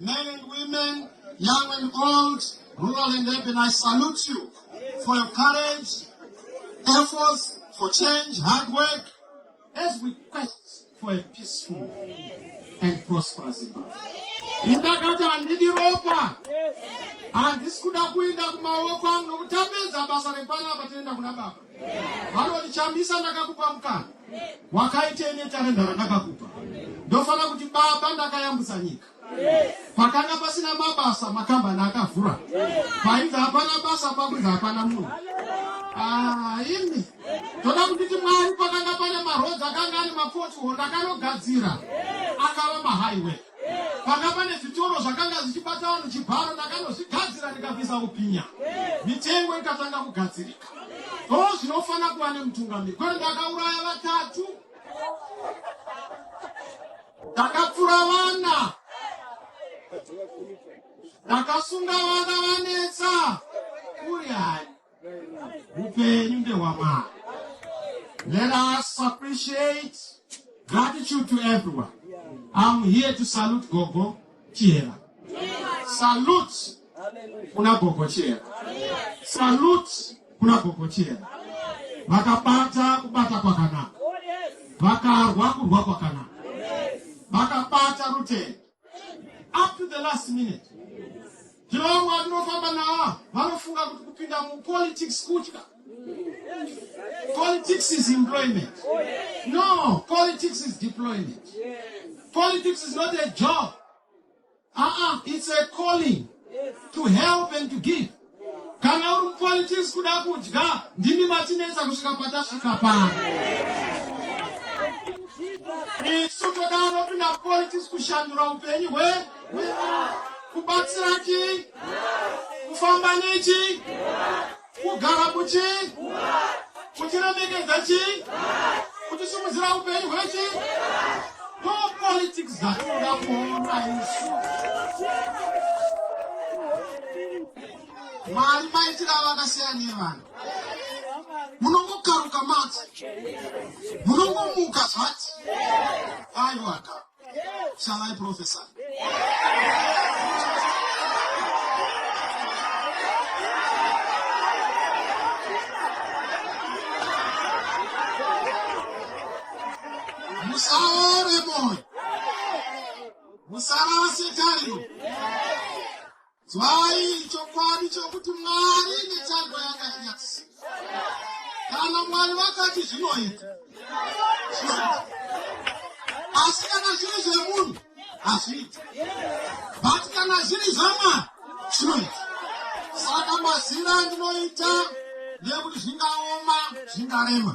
Men and women, young and old, rural and urban, I salute you for your courage, efforts for change, hard work, as we quest for a peaceful and prosperous Zimbabwe. Ndakati handidi ropa, handisi kuda kuenda kumaoko angu nokuti tapedza basa repanapa toenda kuna baba. vanoti chambisa ndakakupa mukana wakaitei netarenda randakakupa ndofanira kuti baba ndakayambutsa nyika pakanga pasina mabasa makambani akavhura painzi hapana basa pakunzi hapana munhu ah, ini toda kunditi mwari pakanga pane marodzi akanga ane mapotiho ndakanogadzira akava mahaiwe panga pane zvitoro zvakanga zvichibata vanhu chibharo ndakanozvigadzira ndikabvisa kupinha mitengo ikatanga kugadzirika o zvinofanira kuva nemutungamiri kwete ndakauraya vatatu ndakapfura vana ndakasunga vana vanetsa kuri hai Upenyu ndehwamwari. Let us appreciate gratitude to everyone. I'm here to salute Gogo Chihera. Salute kuna Gogo Chihera. Salute kuna Gogo Chihera. Vakabata kubata kwakanaka. Vakarwa kurwa kwakanaka. Vakabata rutendo. up to the last minute zvino vamwe vatinofamba nawa vanofunga kuti kupinda mupolitics kutya politics is employment no politics is deployment politics is not a job uh -uh, it's a calling to help and to give Kana uri mupolitics kuda kudya ndimi matinetsa kusvika patasvika pano. Isu toda anopinda mupolitics kushandura upenyu hwe kubatsira chi kufamba nechi kugara kuchi Kutiremekedza chii? Kutisimudzira upenyu hwechi? No politics dzatinoda kuona isu. Mwari maitira vakasiyana nevanhu. Munongokaruka mati. Munongomuka zvati. Aiwaka. Shall I prophesy? Musaore moyo. Musarase tariro. Mai, chokwadi chokuti Mwari mitambo yakanyasi. Kana Mwari vakati zvinoita. Asi kana zviri zvemunhu hazviiti. But kana zviri zvaMwari zvinoita. Saka mazina ndinoita nekuti zvingaoma zvingarema.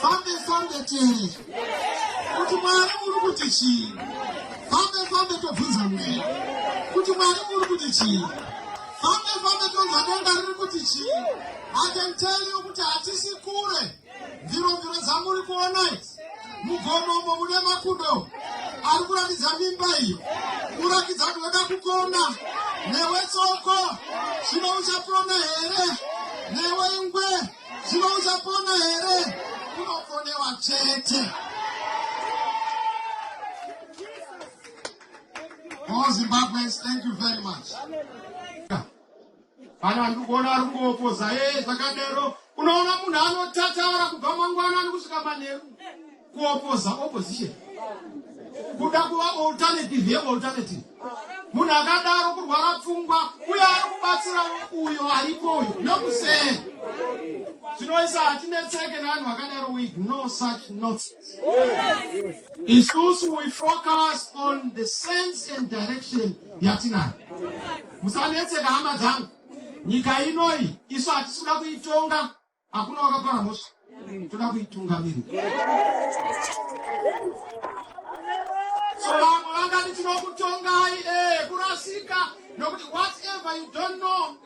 fambe fambe tiri kuti mwari muri kuti chii fambe fambe tobvunza mweya kuti mwari muri kuti chii fambe fambe tonza denga riri kuti chii atenteliyo kuti hatisi kure mviromviro dzamuri kuona idzi mugomo umo mune makudo ari kuratidza mimba iyo kurakidza kuti weda kukona newe tsoko zvino uchapona here newe ingwe Zvino uchapona here? Unoponewa chete. All Zimbabweans, thank you very much. Kana ndikuona ari kungopoza, ee zvakadero. Unoona munhu anotataura kubva mangwanani kusvika manheru. kuopoza opposition kuda kuva alternative yealternative munhu akadaro kurwara pfungwa uye ari kubatsira uyo aripo uyo nokusee zvinoisa hatinetseke nevanhu vakadaro we ignore such nonsense isusu we focus on the sense and direction yatinayo musanetseka hama dzangu nyika inoi isu hatisi kuda kuitonga Hakuna wakapara mhosva toda kuitungamirira. So vamwe vangati tinokutongai eh, kurasika nokuti whatever you don't know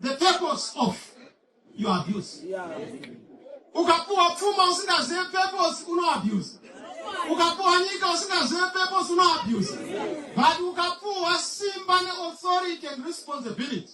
the purpose of your abuse. Ukapuwa pfuma usingazive purpose uno abuse. Ukapuwa nyika usingazive purpose uno abuse. But ukapuwa simba ne authority and responsibility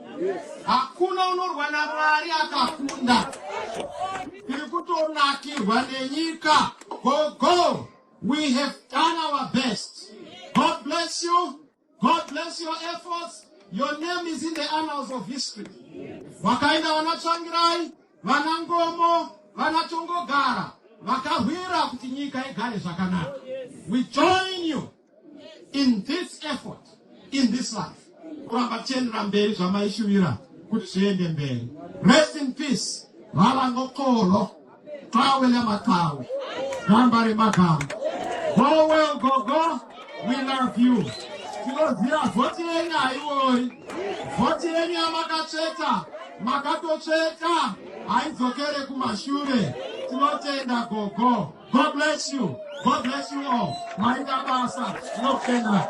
Hakuna unorwa naMwari akakunda. Tiri kutonakirwa nenyika. Go go. We have done our best. God bless you. God bless your efforts. Your name is in the annals of history. Wakaenda vana Tsvangirai, vana Ngomo, vana Tongogara vakahwira kuti nyika igare zvakanaka. We join you. in this effort in this life kuramba tichiendera mberi zvamaishuvira kuti zviende mberi rest in peace valangokolo tawe lematawe gamba remagamba go well gogo we love you tinoziva vhoti yenyu haiori vhoti yenyu yamakatsveta makatotsveta haidzokere kumashure tinotenda gogo God bless you. God bless you all. Maita basa. Tinokutenda.